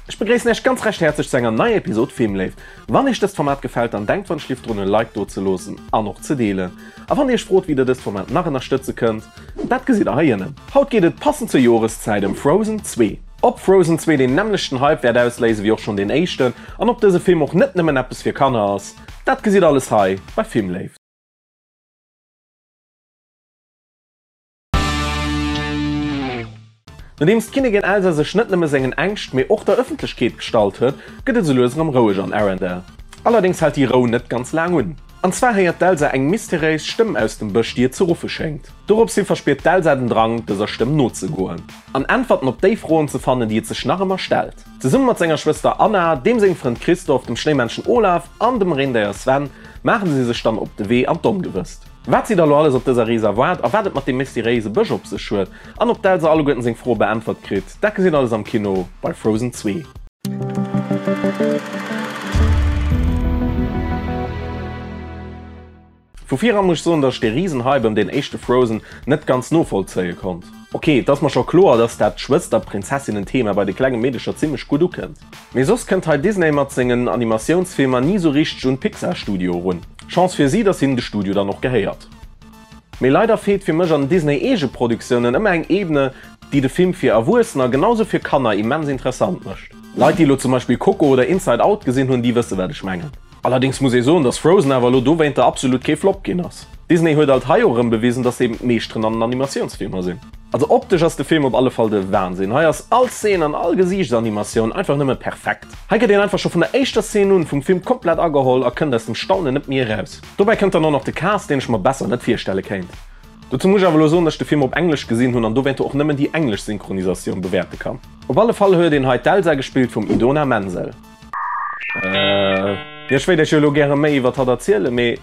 Ech begréissen Äech ganz recht häerzeg zu enger neier Episod Filmléift. Wann Iech dëst Format gefällt, dann denkt wann Schliff drun e Like do ze loossen an och ze deelen. A wann Dir Iech frot wéi Dir dëst Format nach ënnerstëtze kënnt, dat gesitt Der hei ënnen. Haut geet et, passend zur Joreszäit, ëm Frozen 2. Ob Frozen 2 deen nämmlechten Hype wäert ausléisen wéi och schonn deen éischten an ob dëse Film och net nëmmen eppes fir Kanner ass, dat gesitt Alles hei bei Filmléift. Nodeems d'Kinnigin Elsa sech net nëmme sengen Ängscht, mee och der Ëffentlechkeet gestallt huet, gëtt et esou lues erëm roueg an Arendelle. Allerdéngs hält déi Rou net ganz laang un. An zwar héiert d'Elsa eng mysteréis Stëmm aus dem Bësch, déi et ze ruffe schéngt. Dorops hi verspiert d'Elsa den Drang, dëser Stëmm nozegoen an Äntwerten op déi Froen ze fannen, déi et sech nach ëmmer stellt. Zesumme mat senger Schwëster Anna, deem sengem Frënd Christoph, dem Schnéimännchen Olaf an dem Reendéier Sven maache si sech dann op de Wee an d'Ongewësst. Wat si der lo alles op dëser Rees erwaart a wat et mat deem mysteriéise Bësch op sech huet an ob d'Elsa alleguerten seng Froe beäntwert kritt, dat gesitt alles am Kino bei Frozen zwee. Vu viran muss ech soen, dass ech dee riesen Hype ëm deen éischte Frozen net ganz novollzéie konnt. Ok, et ass mer scho kloer, dass dat Schwëster-Prinzessinnen-Thema bei de klenge Meedecher zimmlech gutt ukënnt. Mee soss kënnt hei Disney mat sengen Animatiounsfilmer ni sou richteg un d'Pixar Studio erun. Chance fir si, dass hinnen de Studio dann och gehéiert. Mee leider feelt fir mech an den Disney Eegeproductiounen ëmmer eng Ebene, déi de Film fir Erwuessener genau sou fir Kanner immens interessant mécht. Leit, déi elo zum Beispill Coco oder Inside Out gesinn hunn, déi wësse wat ech mengen. Allerdings muss ee soen dass Frozen awer elo dowéinter absolut kee Flop ginn ass. Disney huet alt hei och erëm bewisen dass se eben d'Meeschteren an den Animatiounsfilmer sinn. Also optesch ass de Film op alle Fall de Wahnsinn. Hei ass all Szene an all Gesiichtsanimation einfach nëmme perfekt. Hei gëtt een einfach scho vun der éischter Szene un vum Film komplett ageholl a kënnt aus dem Staunen net méi eraus. Dobäi kënnt dann och nach de Cast deen ech mer besser net virstelle kéint. Dozou muss ech awer elo soen dass ech de Film op Englesch gesinn hunn an dowéinter och nëmmen déi englesch Synchronisation bewäerte kann. Op alle Fall huet een hei d'Elsa gespillt vum Idona Menzel. Jo ech wéilt Iech jo elo gäre méi iwwert hatt erzielen, mee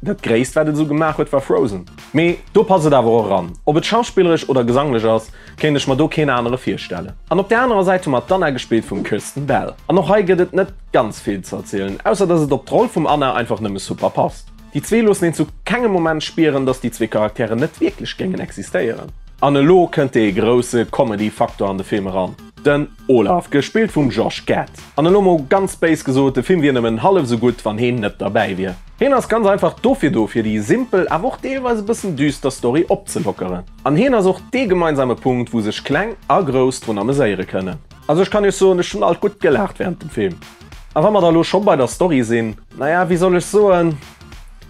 dat gréisst wat et esou gemaach huet war Frozen. Mee do passt et awer och eran. Ob et schauspillerech oder gesanglech ass, kéint ech mer do keen anere virstellen. An op där anerer Säit hu mer d'Anna gespillt vum Kristen Bell an och hei gëtt et net ganz vill ze erzielen, ausser dass et op d'Roll vum Anna einfach nëmme super passt. Déi zwee loossen een zu kengem Moment spieren, dass déi zwee Charakteren net wierklech géingen existéieren. An elo kënnt dee grousse Comedy Faktor an de Film eran, den. Olaf, gespillt vum Josh Gad. An elo mol ganz béis gesot, de Film wier nëmmen hallef esou gutt, wann heen net derbäi wier. Heen ass ganz einfach dofir do, fir déi simpel, awer och deelweis e bëssen düster Story opzelockeren. An heen ass och dee gemeinsame Punkt, wou sech Kleng a Grouss drun ameséiere kënnen. Also ech kann iech soen, ech hunn alt gutt gelaacht während dem Film. A wa mer da elo scho bei der Story sinn, naja, wéi soll ech soen,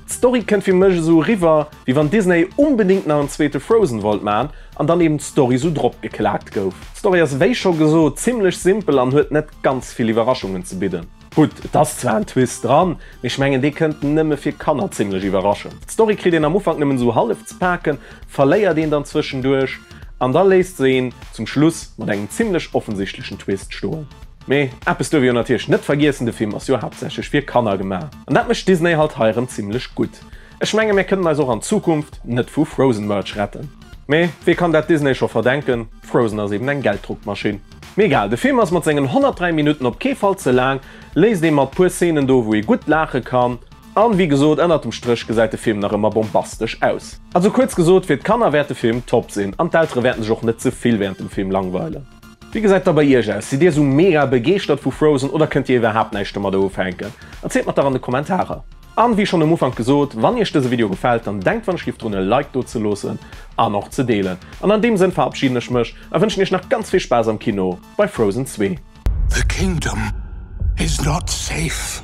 D'Story kënnt fir mech esou eriwwer wéi wann Disney onbedéngt nach en zweete Frozen wollt maan an dann eben d'Story esou drop geklaakt gouf. D'Story ass wéi scho gesoot zimlech simpel an huet net ganz vill Iwwerraschungen ze bidden. Gutt et ass zwar en Twist dran, mee ech mengen dee kënnt nëmme fir Kanner zimlech iwwerraschend. D'Story kritt een am Ufank nëmmen esou hallef ze paaken, verléiert een dann zwëschenduerch an da léisst se een zum Schluss mat engem zimlech offensichtlechen Twist stoen. Mee eppes duerf ee jo natierlech net vergiessen, de Film ass jo haaptsächlech fir Kanner gemaach an dat mécht Disney halt hei erëm zimmlech gutt. Ech menge mir kënnen eis och an Zukunft net vu Frozen Merch retten. Mee wee kann dat Disney scho verdenken, Frozen ass eben eng Gelddruckmaschinn. Mee egal, de Film ass mat sengen 103 Minutten op kee Fall ze laang, léisst ee mat puer Szenen do wou ee gutt laache kann an wéi gesot ënnert dem Stréch gesäit de Film nach ëmmer bombastesch aus. Also kuerz gesot, fir d'Kanner wäert de Film top sinn an d'Eltere wäerten sech och net ze vill während dem Film langweilen. Wéi gesäit da bei iech aus? Sidd dir esou mega begeeschtert vu Frozen oder kënnt dir iwwerhaapt näischt domadder ufänken? Erzielt mer der an de Kommentarer! An wéi schonn um Ufank gesot, wann iech dëse Video gefält, dann denkt wann ech giff drun e Like do ze loossen an och ze deelen. An an deem Sënn verabschieden ech mech a wënschen iech nach ganz vill Spaass am Kino bei Frozen 2. The kingdom is not safe.